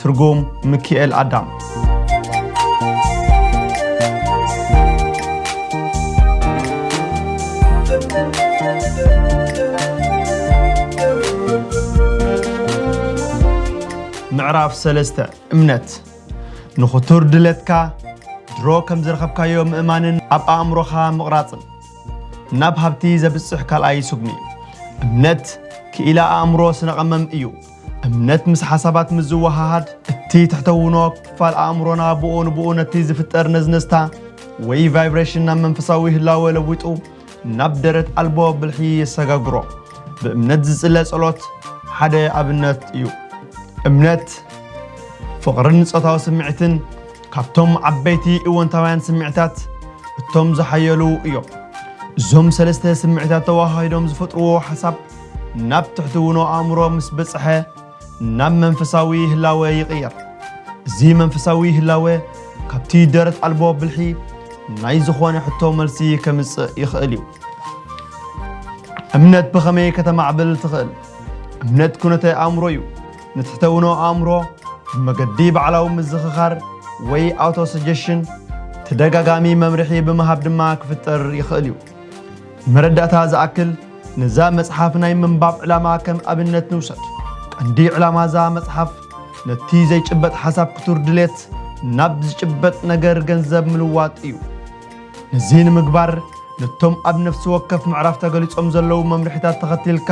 ትርጉም ምኪኤል ኣዳም ምዕራፍ ሰለስተ እምነት ንኽቱር ድለትካ ድሮ ከም ዝረኸብካዮ ምእማንን ኣብ ኣእምሮኻ ምቕራፅን ናብ ሃብቲ ዘብፅሕ ካልኣይ ስጉሚ እምነት ክኢላ ኣእምሮ ስነቐመም እዩ እምነት ምስ ሓሳባት ምስ ዝወሃሃድ፣ እቲ ትሕተውኖ ክፋል ኣእምሮና ብኡ ንብኡ ነቲ ዝፍጠር ነዝነዝታ ወይ ቫይብሬሽን ናብ መንፈሳዊ ህላወ ለዊጡ ናብ ደረት ኣልቦ ብልሒ የሰጋግሮ። ብእምነት ዝጽለ ጸሎት ሓደ ኣብነት እዩ። እምነት ፍቕርን ጾታዊ ስምዒትን ካብቶም ዓበይቲ እወንታውያን ስምዒታት እቶም ዝሓየሉ እዮም። እዞም ሰለስተ ስምዒታት ተወሃሂዶም ዝፈጥርዎ ሓሳብ ናብ ትሕትውኖ ኣእምሮ ምስ በጽሐ ናብ መንፈሳዊ ህላወ ይቕየር። እዚ መንፈሳዊ ህላወ ካብቲ ደረት ኣልቦ ብልሒ ናይ ዝኾነ ሕቶ መልሲ ከምጽእ ይኽእል እዩ። እምነት ብኸመይ ከተማዕብል ትኽእል? እምነት ኩነተ ኣእምሮ እዩ። ንትሕተ-ውኖ ኣእምሮ ብመገዲ ባዕላዊ ምዝኽኻር ወይ ኣውቶ-ሰጀሽን ተደጋጋሚ መምርሒ ብምሃብ ድማ ክፍጠር ይኽእል እዩ። ንመረዳእታ ዝኣክል፣ ነዛ መጽሓፍ ናይ ምንባብ ዕላማ ከም ኣብነት ንውሰድ። ቀንዲ ዕላማ እዛ መጽሓፍ፣ ነቲ ዘይጭበጥ ሓሳብ ክቱር ድሌት ናብ ዝጭበጥ ነገር ገንዘብ ምልዋጥ እዩ። ነዚ ንምግባር፣ ነቶም ኣብ ነፍሲ ወከፍ ምዕራፍ ተገሊጾም ዘለዉ መምርሒታት ተኸቲልካ፣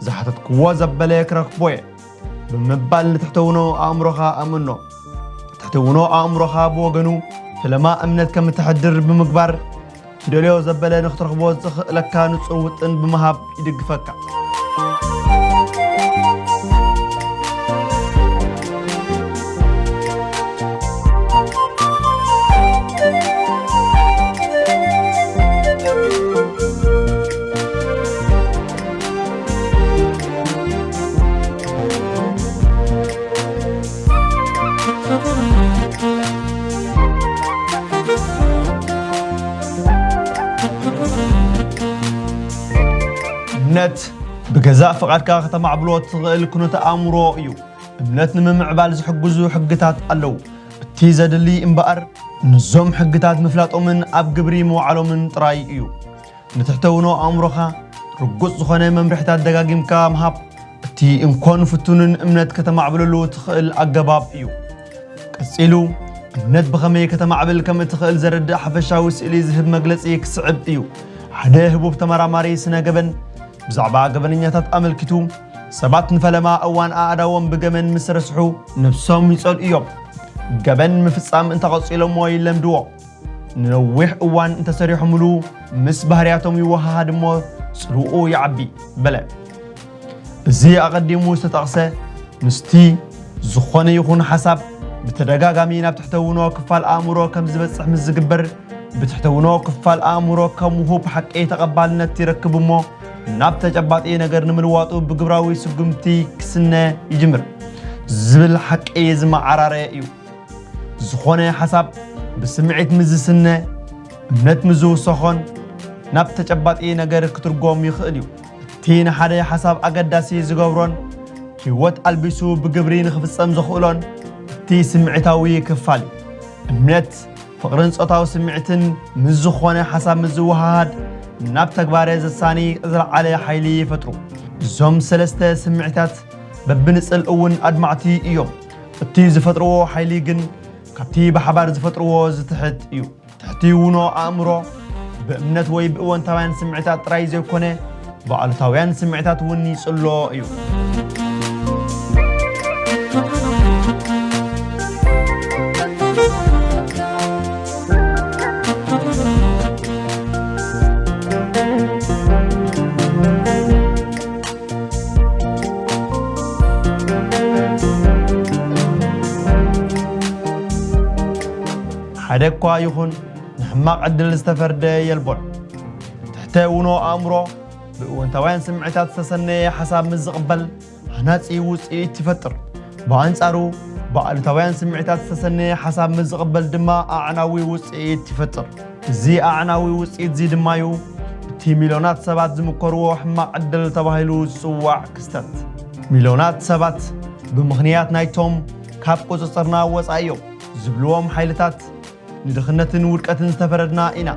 ዝሓተትክዎ ዘበለ ክረክቦ'የ ብምባል ንትሕተውኖ ኣእምሮኻ ኣእምኖ። ትሕትውኖ ኣእምሮኻ ብወገኑ ፈለማ እምነት ከም እተሕድር ብምግባር ትደልዮ ዘበለ ንክትረኽቦ ዝኽእለካ ንጹር ውጥን ብምሃብ ይድግፈካ። እምነት ብገዛእ ፍቓድካ ከተማዕብሎ እትኽእል ኩነተ ኣእምሮ እዩ እምነት ንምምዕባል ዝሕግዙ ሕግታት ኣለዉ እቲ ዘድሊ እምበኣር ንዞም ሕግታት ምፍላጦምን ኣብ ግብሪ ምውዓሎምን ጥራይ እዩ ንትሕተውኖ ኣእምሮኻ ርጉጽ ዝኾነ መምርሕታት ደጋጊምካ ምሃብ እቲ እንኮን ፍቱንን እምነት ከተማዕብለሉ ትኽእል ኣገባብ እዩ። ቀጺሉ እምነት ብኸመይ ከተማዕብል ከም እትኽእል ዘረድእ ሓፈሻዊ ስእሊ ዝህብ መግለጺ ክስዕብ እዩ። ሓደ ህቡብ ተመራማሪ ስነ ገበን ብዛዕባ ገበነኛታት ኣመልኪቱ ሰባት ንፈለማ እዋን ኣእዳዎም ብገመን ምስ ረስሑ ነብሶም ይጸልኡ እዮም። ገበን ምፍጻም እንተቐጺሎሞ ይለምድዎ። ንነዊሕ እዋን እንተሰሪሖምሉ ምስ ባህርያቶም ይወሃሃድ እሞ ጽልኡ ይዓቢ በለ። እዚ ኣቐዲሙ ዝተጠቕሰ ምስቲ ዝኾነ ይኹን ሓሳብ ብተደጋጋሚ ናብ ትሕተውኖ ክፋል ኣእምሮ ከም ዝበጽሕ ምስ ዝግበር ብትሕተውኖ ክፋል ኣእምሮ ከም ውሁብ ሓቂ ተቐባልነት ይረክብ እሞ ናብ ተጨባጢ ነገር ንምልዋጡ ብግብራዊ ስጉምቲ ክስነ ይጅምር ዝብል ሓቂ ዝመዓራረየ እዩ። ዝኾነ ሓሳብ ብስምዒት ምስ ዝስነ፣ እምነት ምስ ዝውሰኾን ናብ ተጨባጢ ነገር ክትርጎም ይኽእል እዩ። እቲ ንሓደ ሓሳብ ኣገዳሲ ዝገብሮን ህይወት ኣልቢሱ ብግብሪ ንኽፍጸም ዘኽእሎን እቲ ስምዒታዊ ክፋል እዩ። እምነት፣ ፍቕርን ጾታዊ ስምዒትን ምስ ዝኾነ ሓሳብ ምስ ዝወሃሃድ ናብ ተግባረ ዘሳኒ ዝለዓለ ሓይሊ ይፈጥሩ። እዞም ሰለስተ ስምዒታት በብንጽል እውን ኣድማዕቲ እዮም። እቲ ዝፈጥርዎ ሓይሊ ግን ካብቲ ብሓባር ዝፈጥርዎ ዝትሕት እዩ። ትሕቲ ውኖ ኣእምሮ ብእምነት ወይ ብእወንታውያን ስምዒታት ጥራይ ዘይኮነ ብኣሉታውያን ስምዒታት እውን ይጽሎ እዩ። ሓደ እኳ ይኹን ንሕማቕ ዕድል ዝተፈርደ የልቦን። ትሕተ ውኖ ኣእምሮ ብእወንታውያን ስምዒታት ዝተሰነየ ሓሳብ ምስ ዝቕበል ሃናጺ ውጽኢት ይፈጥር። ብኣንጻሩ ብኣሉታውያን ስምዒታት ዝተሰነየ ሓሳብ ምስ ዝቕበል ድማ ኣዕናዊ ውጽኢት ይፈጥር። እዚ ኣዕናዊ ውጽኢት'ዚ ድማ'ዩ እቲ ሚልዮናት ሰባት ዝምከርዎ ሕማቕ ዕድል ተባሂሉ ዝጽዋዕ ክስተት። ሚልዮናት ሰባት ብምኽንያት ናይቶም ካብ ቁጽጽርና ወጻኢ'ዮም ዝብልዎም ሓይልታት ንድኽነትን ውድቀትን ዝተፈረድና ኢና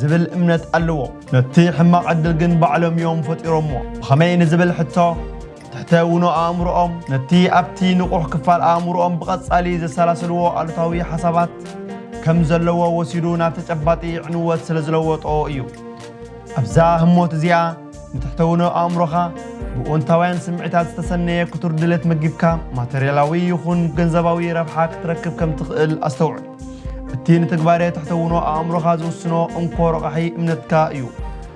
ዝብል እምነት ኣለዎም። ነቲ ሕማቕ ዕድል ግን ባዕሎም'ዮም ፈጢሮምዎ። ብኸመይ ንዝብል ሕቶ፣ ትሕተ-ውኖ ኣእምሮኦም ነቲ ኣብቲ ንቑሕ ክፋል ኣእምሮኦም ብቐጻሊ ዘሰላስልዎ ኣሉታዊ ሓሳባት ከም ዘለዎ ወሲዱ ናብ ተጨባጢ ዕንወት ስለ ዝለወጦ እዩ። ኣብዛ ህሞት እዚኣ ንትሕተ-ውኖ ኣእምሮኻ ብእወንታውያን ስምዒታት ዝተሰነየ ክቱር ድሌት መጊብካ ማተርያላዊ ይኹን ገንዘባዊ ረብሓ ክትረክብ ከም ትኽእል ኣስተውዕል። እቲ ንትግባሬ ትሕተ-ውኖ ኣእምሮኻ ዝውስኖ እንኮ ረቛሒ እምነትካ እዩ።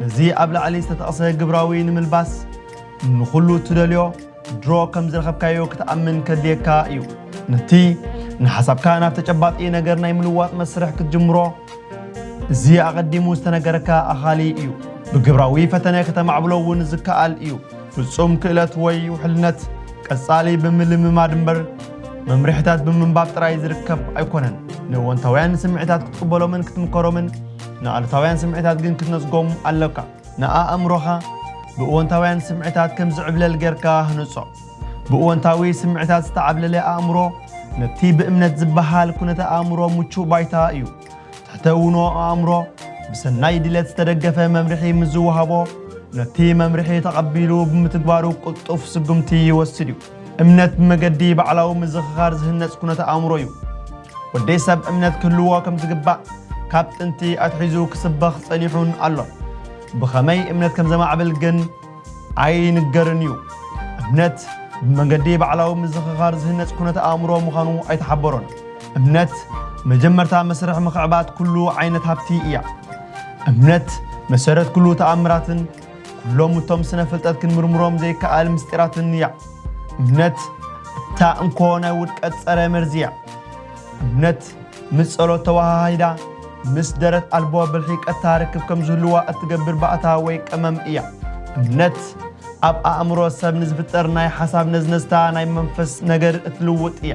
ነዚ ኣብ ላዕሊ ዝተጠቕሰ ግብራዊ ንምልባስ ንኹሉ እትደልዮ ድሮ ከም ዝረኸብካዮ ክትኣምን ከድልየካ እዩ። ነቲ ንሓሳብካ ናብ ተጨባጢ ነገር ናይ ምልዋጥ መስርሕ ክትጅምሮ እዚ ኣቐዲሙ ዝተነገረካ ኣኻሊ እዩ። ብግብራዊ ፈተነ ከተማዕብሎ እውን ዝከኣል እዩ። ፍጹም ክእለት ወይ ውሕልነት ቀጻሊ ብምልምማድ እምበር መምርሒታት ብምንባብ ጥራይ ዝርከብ ኣይኮነን። ንእወንታውያን ስምዒታት ክትቅበሎምን ክትምከሮምን ንኣሉታውያን ስምዒታት ግን ክትነጽጎም ኣሎካ። ንኣእምሮኻ ብእወንታውያን ስምዒታት ከም ዚዕብለል ጌርካ ህንጾ። ብእወንታዊ ስምዒታት ዝተዓብለለ ኣእምሮ፣ ነቲ ብእምነት ዚበሃል ኵነተ-ኣእምሮ ምቹእ ባይታ እዩ። ትሕተ-ውኖ ኣእምሮ፣ ብሰናይ ድሌት ዝተደገፈ መምርሒ ምስ ዚወሃቦ፣ ነቲ መምርሒ ተቐቢሉ ብምትግባሩ ቅልጡፍ ስጕምቲ ይወስድ እዩ። እምነት ብመገዲ ባዕላዊ ምዝኽኻር ዝህነጽ ኩነተ ኣእምሮ እዩ። ወዲ ሰብ እምነት ክህልዎ ከም ዝግባእ ካብ ጥንቲ ኣትሒዙ ክስበኽ ጸኒሑን ኣሎን። ብኸመይ እምነት ከም ዘማዕብል ግን ኣይንገርን እዩ። እምነት ብመገዲ ባዕላዊ ምዝኽኻር ዝህነጽ ኩነተ ኣእምሮ ምዃኑ ኣይተሓበሮን። እምነት መጀመርታ መስርሕ ምኽዕባት ኩሉ ዓይነት ሃብቲ እያ። እምነት መሰረት ኩሉ ተኣምራትን ኩሎም እቶም ስነ ፍልጠት ክንምርምሮም ዘይከኣል ምስጢራትን እያ። እምነት እታ እንኮ ናይ ውድቀት ጸረ መርዚ እያ። እምነት ምስ ጸሎት ተወሃሂዳ ምስ ደረት ኣልቦ ብልሒ ቀታ ርክብ ከም ዝህልዋ እትገብር ባእታ ወይ ቀመም እያ። እምነት ኣብ ኣእምሮ ሰብ ንዝፍጠር ናይ ሓሳብ ነዝነዝታ ናይ መንፈስ ነገር እትልውጥ እያ።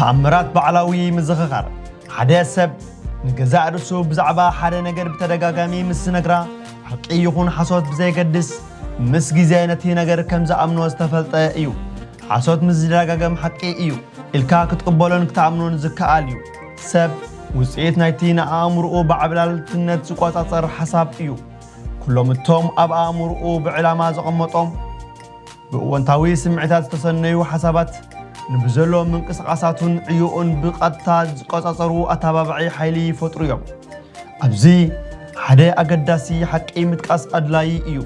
ተኣምራት ባዕላዊ ምዝኽኻር ሓደ ሰብ ንገዛእ ርእሱ ብዛዕባ ሓደ ነገር ብተደጋጋሚ ምስ ዝነግራ ሓቂ ይኹን ሓሶት ብዘየገድስ ምስ ግዜ ነቲ ነገር ከም ዝኣምኖ ዝተፈልጠ እዩ። ሓሶት ምስ ዝደጋገም ሓቂ እዩ ኢልካ ክትቕበሎን ክትኣምኖን ዝከኣል እዩ። ሰብ ውጽኢት ናይቲ ንኣእምሮኡ ብዓብላልትነት ዝቆጻጸር ሓሳብ እዩ። ኩሎም እቶም ኣብ ኣእምሮኡ ብዕላማ ዘቐመጦም ብእወንታዊ ስምዒታት ዝተሰነዩ ሓሳባት ንብዘሎ ምንቅስቓሳቱን ዕዮኡን ብቐጥታ ዝቆጻጸሩ ኣተባባዒ ሓይሊ ይፈጥሩ እዮም። ኣብዚ ሓደ ኣገዳሲ ሓቂ ምጥቃስ ኣድላዪ እዩ።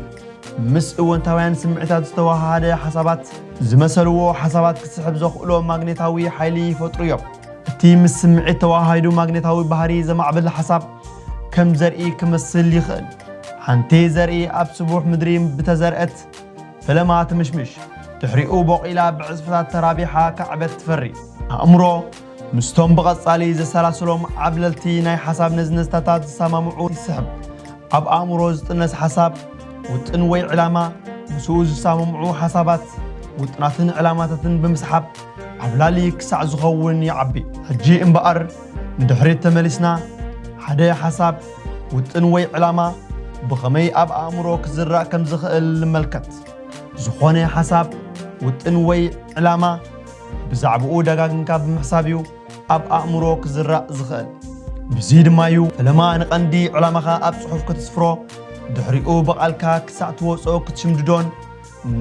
ምስ እወንታውያን ስምዒታት ዝተዋሃሃደ ሓሳባት ዝመሰልዎ ሓሳባት ክስሕብ ዘኽእሎ ማግኔታዊ ሓይሊ ይፈጥሩ እዮም። እቲ ምስ ስምዒት ተዋሃሂዱ ማግኔታዊ ባህሪ ዘማዕብል ሓሳብ ከም ዘርኢ ክመስል ይኽእል። ሓንቲ ዘርኢ ኣብ ስቡሕ ምድሪ ብተዘርአት ፈለማ ትምሽምሽ፣ ድሕሪኡ ቦቒላ ብዕጽፍታት ተራቢሓ ክዕበት ትፈሪ። ኣእምሮ ምስቶም ብቐጻሊ ዘሰላስሎም ዓብለልቲ ናይ ሓሳብ ነዝነዝታታት ዝሰማምዑ ይስሕብ። ኣብ ኣእምሮ ዝጥነስ ሓሳብ፣ ውጥን ወይ ዕላማ፣ ምስኡ ዝሰማምዑ ሓሳባት፣ ውጥናትን ዕላማታትን ብምስሓብ ዓብላሊ ክሳዕ ዝኸውን ይዓቢ። ሕጂ እምበኣር ንድሕሪት ተመሊስና ሓደ ሓሳብ፣ ውጥን ወይ ዕላማ ብኸመይ ኣብ ኣእምሮ ክዝራእ ከም ዝኽእል ንመልከት። ዝኾነ ሓሳብ፣ ውጥን ወይ ዕላማ፣ ብዛዕባኡ ደጋግምካ ብምሕሳብ እዩ ኣብ ኣእምሮ ክዝራእ ዝኽእል። ብዙይ ድማ እዩ ፈለማ ንቐንዲ ዕላማኻ ኣብ ጽሑፍ ክትስፍሮ፣ ድሕሪኡ ብቓልካ ክሳዕ ትወጾ ክትሽምድዶን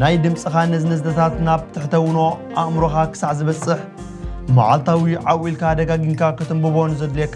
ናይ ድምጽኻ ነዝነዝነታት ናብ ትሕተውኖ ኣእምሮኻ ክሳዕ ዝበጽሕ መዓልታዊ ዓው ኢልካ ደጋጊምካ ከተንብቦን ዘድልየካ።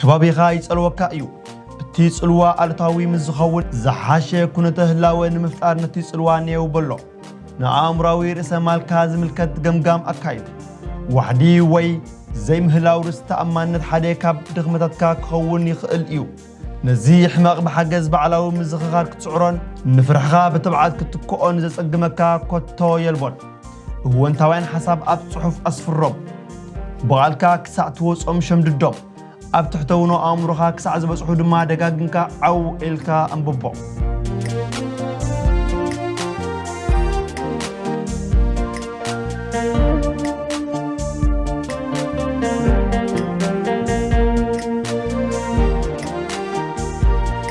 ከባቢኻ ይጸልወካ እዩ። እቲ ጽልዋ ኣሉታዊ ምስ ዝኸውን ዝሓሸ ኩነተ ህላወ ንምፍጣር ነቲ ጽልዋ ኔው በሎ። ንኣእምሮኣዊ ርእሰ ማልካ ዝምልከት ገምጋም ኣካይድ። ዋሕዲ ወይ ዘይምህላው ርእስ ተኣማንነት ሓደ ካብ ድኽመታትካ ክኸውን ይኽእል እዩ። ነዚ ሕመቕ ብሓገዝ ባዕላዊ ምዝኽኻር ክትስዕሮን ንፍርሕኻ ብትብዓት ክትክኦን ዘጸግመካ ኮቶ የልቦን። እወንታውያን ሓሳብ ኣብ ጽሑፍ ኣስፍሮም። ብቓልካ ክሳዕ ትወጾም ሸምድዶም። ኣብ ትሕተውኖ ኣእምሮኻ ክሳዕ ዝበጽሑ ድማ ደጋግምካ ዓው ኢልካ ኣንብቦም።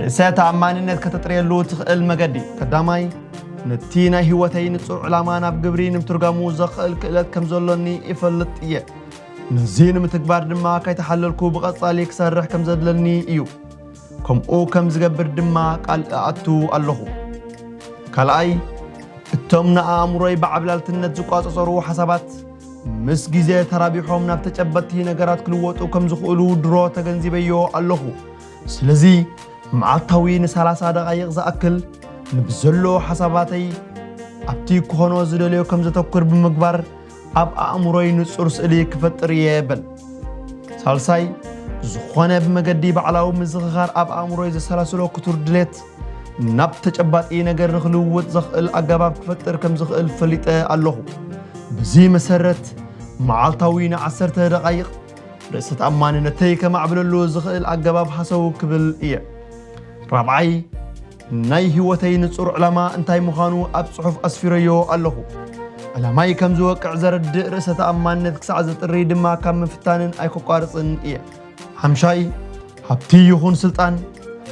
ርእሰ ተኣማንነት ከተጥርየሉ ትኽእል መገዲ ቀዳማይ ነቲ ናይ ህይወተይ ንጹር ዕላማ ናብ ግብሪ ንምትርጋሙ ዘኽእል ክእለት ከም ዘሎኒ ይፈልጥ እየ ነዚ ንምትግባር ድማ ከይተሓለልኩ ብቐጻሊ ክሰርሕ ከም ዘድለኒ እዩ ከምኡ ከም ዝገብር ድማ ቃል እኣቱ ኣለኹ ካልኣይ እቶም ንኣእምሮይ ብዓብላልትነት ዝቋጸጸሩ ሓሳባት ምስ ግዜ ተራቢሖም ናብ ተጨበጥቲ ነገራት ክልወጡ ከም ዝኽእሉ ድሮ ተገንዚበዮ ኣለኹ ስለዚ መዓልታዊ ንሳላሳ ደቓይቕ ዝኣክል ንብዘሎ ሓሳባተይ ኣብቲ ክኾኖ ዝደልዮ ከም ዘተኩር ብምግባር ኣብ ኣእምሮይ ንጹር ስእሊ ክፈጥር እየ በል። ሳልሳይ ዝኾነ ብመገዲ ባዕላዊ ምዝኽኻር ኣብ ኣእምሮይ ዘሰላስሎ ክቱር ድሌት ናብ ተጨባጢ ነገር ንክልውጥ ዘኽእል ኣገባብ ክፈጥር ከም ዝኽእል ፈሊጠ ኣለኹ። በዚ መሰረት መዓልታዊ ንዓሰርተ ደቓይቕ ርእሰ ተኣማንነተይ ከማዕብለሉ ዝኽእል ኣገባብ ሃሰው ክብል እየ። ራብዓይ፣ ናይ ህይወተይ ንጹር ዕላማ እንታይ ምዃኑ ኣብ ጽሑፍ ኣስፊረዮ ኣለኹ። ዕላማይ ከም ዝወቅዕ ዘረድእ ርእሰ ተኣማንነት ክሳዕ ዘጥሪ ድማ ካብ ምፍታንን ኣይከቋርጽን እየ። ሓምሻይ፣ ሃብቲ ይኹን ስልጣን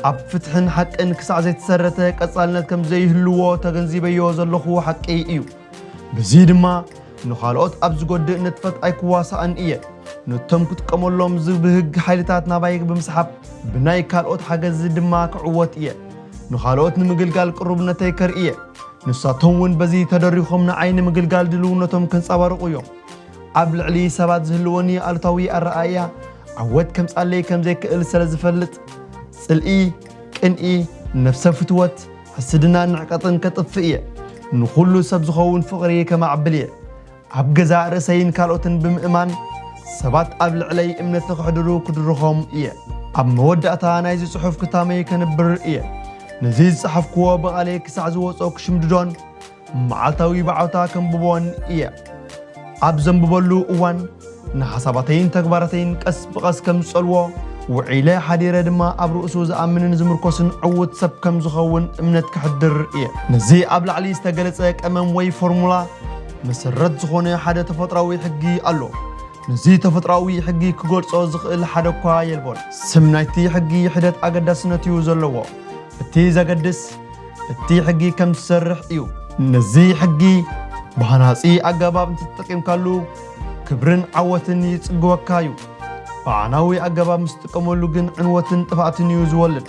ኣብ ፍትሕን ሓቅን ክሳዕ ዘይተሰረተ ቀጻልነት ከም ዘይህልዎ ተገንዚበዮ ዘለኹ ሓቂ እዩ። በዚ ድማ ንኻልኦት ኣብ ዝጎድእ ንጥፈት ኣይክዋሳእን እየ። ነቶም ክጥቀመሎም ዝብህግ ሓይልታት ናባይ ብምስሓብ ብናይ ካልኦት ሓገዝ ድማ ክዕወት እየ። ንኻልኦት ንምግልጋል ቅሩብነተይ ከርኢ እየ። ንሳቶም እውን በዚ ተደሪኾም ንዓይ ንምግልጋል ድልውነቶም ከንጸባርቑ እዮም። ኣብ ልዕሊ ሰባት ዝህልወኒ ኣሉታዊ ኣረኣእያ ዓወት ከምጻለይ ከምዘይክእል ስለ ዝፈልጥ ጽልኢ፣ ቅንኢ፣ ነብሰ ፍትወት፣ ሕስድናን ንዕቀትን ከጥፍእ እየ። ንዅሉ ሰብ ዝኸውን ፍቕሪ ከማዕብል እየ። ኣብ ገዛእ ርእሰይን ካልኦትን ብምእማን፣ ሰባት ኣብ ልዕለይ እምነት ንኸሕድሩ ክድርኾም እየ። ኣብ መወዳእታ ናይዚ ጽሑፍ ክታመይ ከንብር እየ። ነዚ ዝጸሓፍክዎ ብቓለይ ክሳዕ ዝወጽኦ ክሽምድዶን፣ መዓልታዊ ብዓውታ ከንብቦን ኢየ። ኣብ ዘንብበሉ እዋን ንሓሳባተይን ተግባራተይን ቀስ ብቐስ ከም ዝጸልዎ፣ ውዒለ ሓዲረ ድማ ኣብ ርእሱ ዝኣምንን ዝምርኮስን ዕዉት ሰብ ከም ዝኸውን እምነት ከሕድር ኢየ። ነዚ ኣብ ላዕሊ ዝተገለጸ ቀመም ወይ ፎርሙላ መሰረት ዝኾነ ሓደ ተፈጥሮኣዊ ሕጊ ኣሎ። ነዚ ተፈጥሮኣዊ ሕጊ ክገልጾ ዝኽእል ሓደ እኳ የልቦን። ስም ናይቲ ሕጊ ሒደት ኣገዳስነት ኢዩ ዘለዎ። እቲ ዘገድስ፣ እቲ ሕጊ ከም ዝሰርሕ እዩ። ነዚ ሕጊ ብሃናጺ ኣገባብ እንተተጠቂምካሉ ክብርን ዓወትን ይጽግወካ እዩ። ብኣዕናዊ ኣገባብ ምስ ትጥቀመሉ ግን ዕንወትን ጥፍኣትን እዩ ዝወልድ።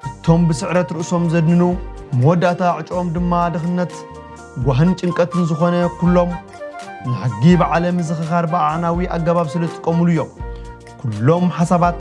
እቶም ብስዕረት ርእሶም ዘድንኑ መወዳእታ ዕጭኦም ድማ ድኽነት፣ ጓህን ጭንቀትን ዝኾነ ኩሎም ንሕጊ ብዓለ ምዝኽኻር ብኣዕናዊ ኣገባብ ስለ ዝጥቀምሉ እዮም። ኩሎም ሓሳባት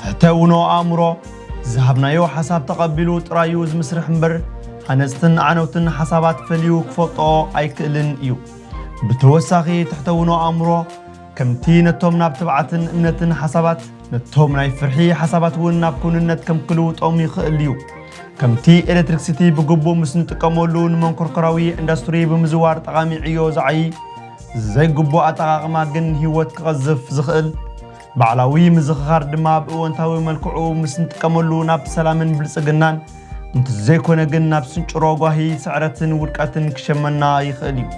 ትሕተ-ውኖ ኣእምሮ፣ ዝሃብናዮ ሓሳብ ተቐቢሉ ጥራይ እዩ ዝምስርሕ እምበር፣ ሃነጽትን ዓነውትን ሓሳባት ፈልዩ ክፈልጦኦ ኣይክእልን እዩ። ብተወሳኺ ትሕተ-ውኖ ኣእምሮ፣ ከምቲ ነቶም ናብ ትብዓትን እምነትን ሓሳባት፣ ነቶም ናይ ፍርሒ ሓሳባት እውን ናብ ክውንነት ከም ክልውጦም ይኽእል እዩ። ከምቲ ኤለትሪክሲቲ ብግቡእ ምስ ንጥቀመሉ ንመንኮርኮራዊ ኢንዳስትሪ ብምዝዋር ጠቓሚ ዕዮ ዝዓዪ፣ ዘይግቡእ ኣጠቓቕማ ግን ህይወት ክቐዝፍ ዝኽእል፣ ባዕላዊ ምዝኽኻር ድማ ብእወንታዊ መልክዑ ምስ ንጥቀመሉ ናብ ሰላምን ብልጽግናን እንተዘይኮነ ግን ናብ ስንጭሮ ጓሂ፣ ስዕረትን ውድቀትን ክሸመና ይኽእል እዩ።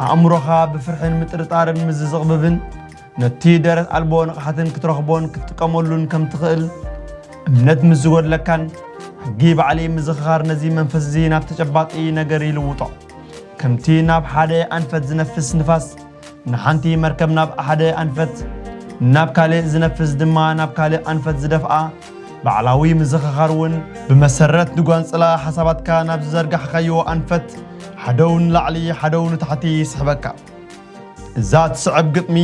ኣእምሮኻ ብፍርሕን ምጥርጣርን ምስ ዝዝቕብብን ነቲ ደረት ኣልቦ ንቕሓትን ክትረኽቦን ክትጥቀመሉን ከም ትኽእል እምነት ምስ ዝጎድለካን ሕጊ ባዕሊ ምዝኽኻር ነዚ መንፈስ እዚ ናብ ተጨባጢ ነገር ይልውጦ። ከምቲ ናብ ሓደ ኣንፈት ዝነፍስ ንፋስ ንሓንቲ መርከብ ናብ ሓደ ኣንፈት ናብ ካልእ ዝነፍስ ድማ ናብ ካልእ ኣንፈት ዝደፍኣ ባዕላዊ ምዝኽኻር እውን ብመሰረት ንጓንጽላ ሓሳባትካ ናብ ዝዘርጋሕካዮ ኣንፈት ሓደው ንላዕሊ ሓደው ንታሕቲ ይስሕበካ። እዛ ትስዕብ ግጥሚ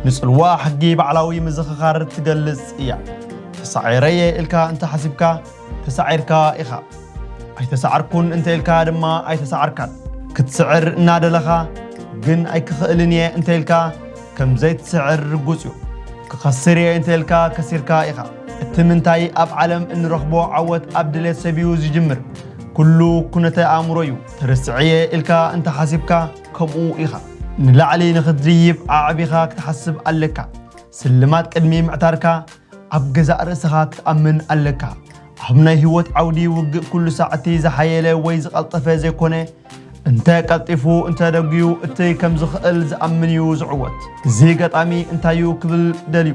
ንጽልዋ ሕጊ ባዕላዊ ምዝኽኻር ትገልጽ እያ። ተሳዒረ እየ ኢልካ እንተሓሲብካ ተሳዒርካ ኢኻ። ኣይተሳዕርኩን እንተኢልካ ድማ ኣይተሳዕርካን። ክትስዕር እናደለኻ ግን ኣይክኽእልን እየ እንተኢልካ ከም ዘይትስዕር ርጉጽ እዩ። ክኸስር እየ እንተኢልካ ከሲርካ ኢኻ። እቲ ምንታይ ኣብ ዓለም እንረኽቦ ዓወት ኣብ ድሌት ሰብዩ ዝጅምር። ኩሉ ኩነተ ኣእምሮ እዩ። ተርስዐ እየ ኢልካ እንተሓሲብካ ከምኡ ኢኻ። ንላዕሊ ንኽትድይብ ኣዕቢኻ ክትሓስብ ኣለካ። ስልማት ቅድሚ ምዕታርካ ኣብ ገዛእ ርእሰኻ ክትኣምን ኣለካ። ኣብ ናይ ህይወት ዓውዲ ውግእ ኩሉ ሳዕ እቲ ዝሓየለ ወይ ዝቐልጠፈ ዘይኮነ፣ እንተ ቀልጢፉ እንተ ደጉዩ እቲ ከም ዝኽእል ዝኣምን እዩ ዝዕወት። እዚ ገጣሚ እንታይ'ዩ ክብል ደልዩ?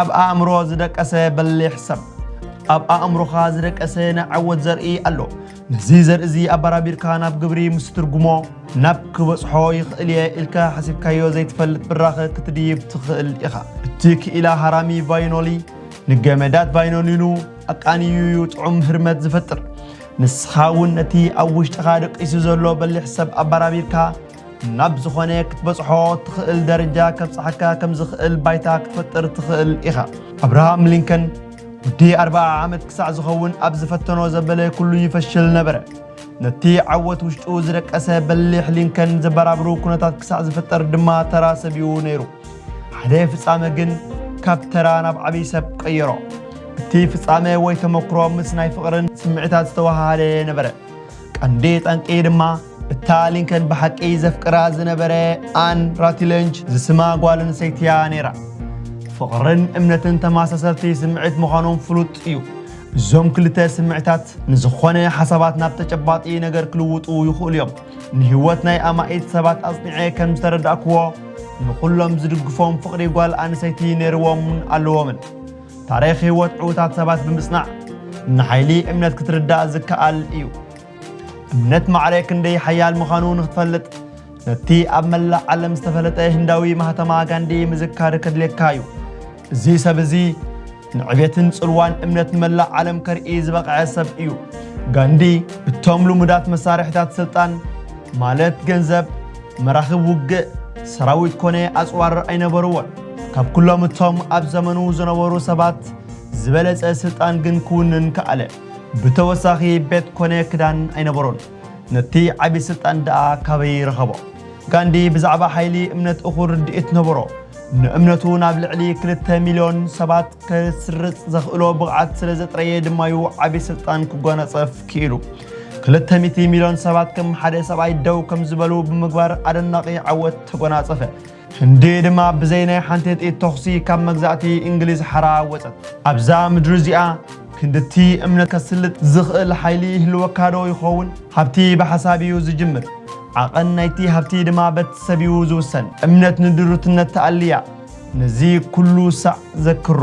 ኣብ ኣእምሮ ዝደቀሰ በሊሕ ሰብ ኣብ ኣእምሮኻ ዝደቀሰ ናይ ዓወት ዘርኢ ኣሎ ነዚ ዘርኢ እዚ ኣባራቢርካ ናብ ግብሪ ምስ ትርጉሞ ናብ ክበጽሖ ይኽእል እየ ኢልካ ሓሲብካዮ ዘይትፈልጥ ብራኸ ክትድይብ ትኽእል ኢኻ። እቲ ክኢላ ሃራሚ ቫይኖሊ ንገመዳት ቫይኖሊኑ ኣቃንዩ እዩ ጥዑም ህርመት ዝፈጥር። ንስኻ እውን ነቲ ኣብ ውሽጥኻ ደቂሱ ዘሎ በሊሕ ሰብ ኣባራቢርካ ናብ ዝኾነ ክትበጽሖ ትኽእል ደረጃ ከብጽሓካ ከም ዝኽእል ባይታ ክትፈጥር ትኽእል ኢኻ። ኣብርሃም ሊንከን ውዲ ኣርብዓ ዓመት ክሳዕ ዝኸውን ኣብ ዝፈተኖ ዘበለ ኩሉ ይፈሽል ነበረ። ነቲ ዓወት ውሽጡ ዝደቀሰ በሊሕ ሊንከን ዘበራብሩ ኩነታት ክሳዕ ዝፍጠር ድማ ተራ ሰብ'ዩ ነይሩ። ሓደ ፍጻመ ግን ካብ ተራ ናብ ዓብዪ ሰብ ቀየሮ። እቲ ፍጻመ ወይ ተመክሮ ምስ ናይ ፍቕርን ስምዒታት ዝተወሃሃደ ነበረ። ቀንዲ ጠንቂ ድማ እታ ሊንከን ብሓቂ ዘፍቅራ ዝነበረ ኣን ራቲለንጅ ዝስማ ጓል ኣንስተይቲ እያ ነይራ ፍቕርን እምነትን ተመሳሰልቲ ስምዒት ምዃኖም ፍሉጥ እዩ እዞም ክልተ ስምዒታት ንዝኾነ ሓሳባት ናብ ተጨባጢ ነገር ክልውጡ ይኽእሉ እዮም ንህይወት ናይ ኣማኢት ሰባት ኣጽኒዐ ከም ዝተረዳእክዎ ንዅሎም ዝድግፎም ፍቕሪ ጓል ኣንሰይቲ ነይርዎምን ኣለዎምን ታሪኽ ህይወት ዕዉታት ሰባት ብምጽናዕ ንሓይሊ እምነት ክትርዳእ ዝከኣል እዩ። እምነት ማዕረ ክንደይ ሓያል ምዃኑ ንክትፈልጥ ነቲ ኣብ መላእ ዓለም ዝተፈለጠ ህንዳዊ ማህተማ ጋንዲ ምዝካር ከድልየካ እዩ። እዚ ሰብ እዚ ንዕቤትን ጽልዋን እምነት ንመላእ ዓለም ከርኢ ዝበቕዐ ሰብ እዩ። ጋንዲ እቶም ልሙዳት መሳርሒታት ስልጣን ማለት ገንዘብ፣ መራኽብ ውግእ፣ ሰራዊት ኮነ ኣጽዋር ኣይነበርዎን። ካብ ኩሎም እቶም ኣብ ዘመኑ ዝነበሩ ሰባት ዝበለጸ ስልጣን ግን ክውንን ከኣለ። ብተወሳኺ ቤት ኮነ ክዳን ኣይነበሮን። ነቲ ዓቢ ስልጣን ደኣ ካበይ ረኸቦ? ጋንዲ ብዛዕባ ሓይሊ እምነት እኹል ርድኢት ነበሮ። ንእምነቱ ናብ ልዕሊ ክልተ ሚልዮን ሰባት ከስርጽ ዘኽእሎ ብቕዓት ስለ ዘጥረየ ድማዩ ዓቢ ስልጣን ክጓናጸፍ ክኢሉ። ክልተ ሚቲ ሚልዮን ሰባት ከም ሓደ ሰብኣይ ደው ከም ዝበሉ ብምግባር ኣደናቒ ዓወት ተጓናጸፈ። ህንዲ ድማ ብዘይ ናይ ሓንቲ ጥይት ተኹሲ ካብ መግዛእቲ እንግሊዝ ሓራ ወጸት። ኣብዛ ምድሪ እዚኣ ክንድቲ እምነት ከስልጥ ዝኽእል ሓይሊ ይህልወካዶ ይኸውን? ሃብቲ ብሓሳብ እዩ ዝጅምር፣ ዓቐን ናይቲ ሃብቲ ድማ በቲ ሰብ እዩ ዝውሰን። እምነት ንድሩትነት ትኣሊ እያ፣ ነዚ ኩሉ ሳዕ ዘክሮ።